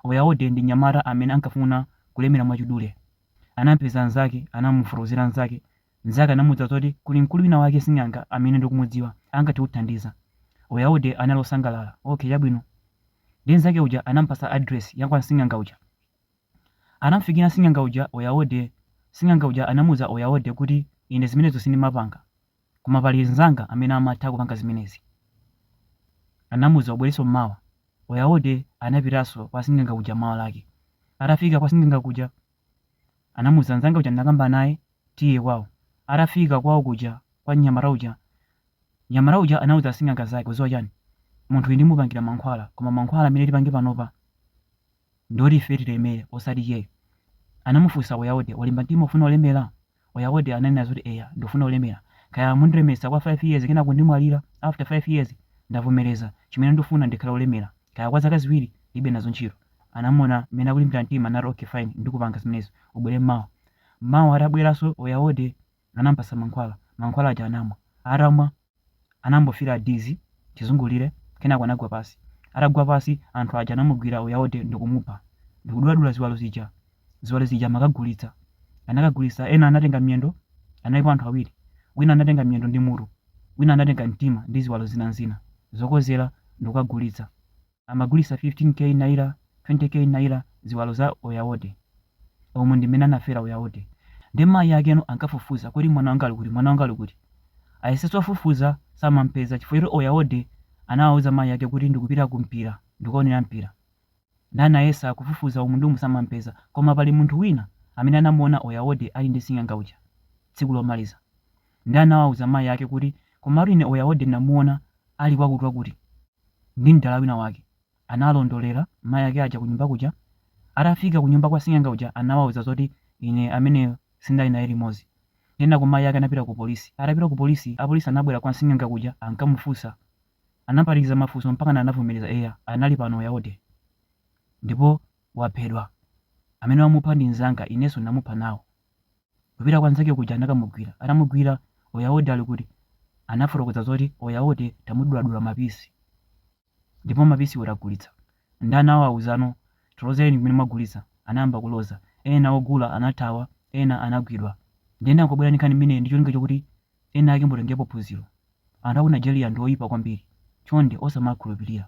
Oyaode ndi mnyamata amene ankafuna kulemera mwachidule. Anampeza mzake, anamufotokozera mzake, mzake anamuuza zoti kuli mkulu wina wake sing'anga amene ndikumudziwa, angathe kuthandiza. Oyaode anali osangalala, okay chabwino. Ndiye mzake uja anamupatsa address ya kwa sing'anga uja. Anamufikira sing'anga uja Oyaode, sing'anga uja anamuuza Oyaode kuti ine zimenezo sindimapanga. Koma pali mnzanga amene amatha kupanga zimenezi. Anamuuza ubwerenso m'mawa. Oyaode anapitanso kwa sing'anga uja mawa lake. Atafika kwa sing'anga kuja, anamuuza mnzanga uja ndinakamba naye, Tiye kwao. Atafika kwao kuja kwa mnyamata uja, mnyamata uja anauza asing'anga zake, Udziwa chani? Munthuyi ndimupangira mankhwala, koma mankhwala amene tipange panopa, Ndoti ife tilemere osati iyeyo. Anamufunsa Oyaode, Walimba mtima ufuna ulemera? Oyaode ananena zoti eya ndufuna ulemera. Kaya mundilemetsa kwa 5 years kenako ndimwalira after 5 years ndavomereza. Chimene ndufuna ndikhale olemera. Kaya kwa zaka ziwiri ndilibe nazo ntchito. Anamuona mmene akulimbira mtima anati okay fine ndikupanga zimenezo. Ubwere mmawa. Mmawa atabweranso Oyaode anamupatsa mankhwala. Mankhwala aja anamwa. Atamwa. anangofeela dizzy chizungulire kenako anagwa pasi. Atagwa pasi anthu aja anamugwira Oyaode ndikumupha ndikuduladula ziwalo zija. Ziwalo zija amakagulitsa. Anakagulitsa ena anatenga miyendo, analipo anthu awiri, wina anatenga miyendo ndi mutu, wina anatenga mtima ndi ziwalo zinazina zokozera ndikukagulitsa. amagulisa 15 K naira 20 K naira ziwalo za oyaode umu ndi mmene anafera oyaode nde mayi akeno ankafufuza kodi mwana wanga ali kuti mwana wanga ali kuti ayesetsa afufuza samampeza chifukwa choti oyaode anawauza mayi ake kuti ndikupita ku mpira ndikukaonera mpira nde anayesa kufufuza umu ndi umu samampeza koma pali munthu wina amene anamuona oyaode ali ndi sing'anga uja tsiku lomaliza Ndiye anawauza mayi ake kuti, Komatu ine Oyaode ndinamuona ali kwakutiwakuti ndi mdala wina wake. Analondolera mayi ake aja kunyumba kuja. Atafika kunyumba kwa sing'anga uja anawauza zoti ine ameneyo sindinali naye limodzi. Kenako mayi ake anapita kupolisi. Atapita kupolisi, apolisi anabwera kwa sing'anga kuja ankamufunsa. Anampanikiza mafunso mpakana anavomereza, eya, anali pano Oyaode. Ndipo waphedwa. Amene wamupha ndi mnzanga, inenso ndinamupha nawo. kupita kwa nzake kuja anakamugwira atamugwira oyaode ali kuti anafotokoza zoti oyaode tamuduladula mapisi ndipo mapisiwo tagulitsa ndi anawauzano tilozereni kumene mwagulitsa anayamba kuloza ena ogula anathawa ena anagwidwa ndiye ndangobwera ndi nkhani imeneyi ndi cholinga chokuti ena ake mutengepo phunziro anthu aku nigeria ndi oyipa kwambiri chonde osamakhulupirira